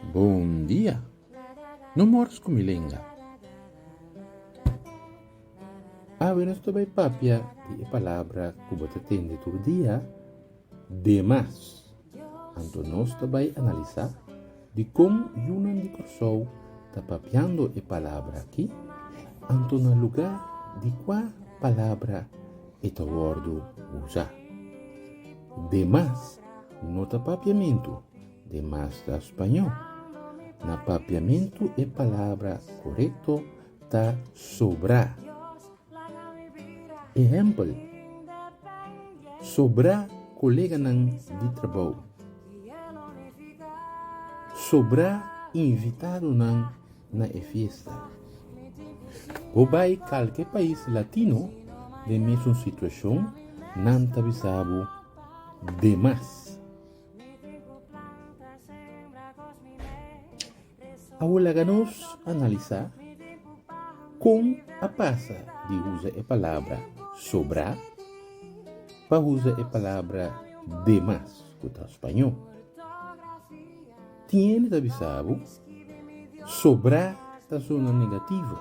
Bon dia! No mors ku mi lenga. Awe nos ta bai papia di e palabra ku bo ta tende tur dia. Demas, anto nos ta bai analisá dikon yunan di Kòrsou ta papiando e palabra akí, anto na lugá di kua palabra e ta wòrdu usá. Demas no ta papiamentu, demas ta spañó. Na papiamentu e palabra korekto ta sobrá. Ehèmpel, Sobrá koleganan di trabou. Sobrá invitadonan na e fiesta. Bo bai kalke pais latino den mesun situashon, nan ta bisa bo demas. a wol laga nos analisá kon a pasa di usa e palabra sobrá pa usa e palabra de más, ku ta spañó. Tiene ta bisa bo, sobrá ta sona negativo.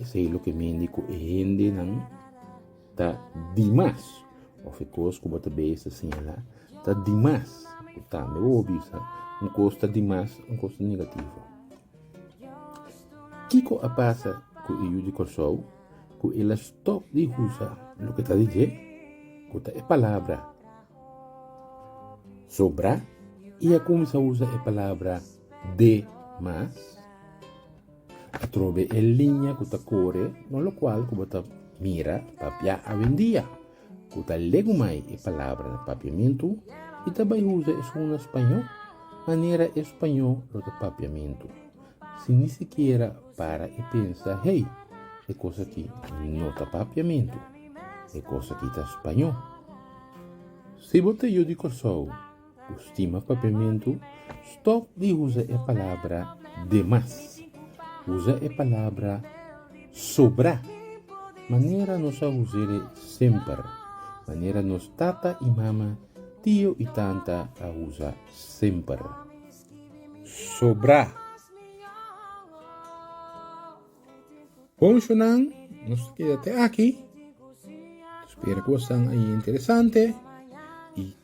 Esei loke mindi ku e hendenan ta di mas, òf e kos ku bo ta bei ta siñalá ta di mas. Ku tambe bo por bisa, un kos ta di mas, un kos ta negativo. Kiko a pasa ku e yu di Kòrsou ku el a stòp di usa loke ta di dje, ku ta e palabra sobrá, i a kuminsá usa e palabra de mas? Atrobe e liña ku ta kore no lokual ku bo ta mira papia awendia ku ta legumai e palabra na papiamentu i ta bai usa esun na spañó manera e spañó lo ta papiamentu sin ni sikiera para i pensa hey e kos aki no ta papiamentu e kos aki ta spañó. Si bo ta yu di Kòrsou. Stima Papiamentu, Stòp di usa e palabra demas. Usa e palabra sobrá. Manera nos a us'el semper. Manera nos tata i mama, tio i tanta a usa semper. Sobrá. Bon shonnan, nos ta keda te aki. Ta spera ku bo a stán interesante i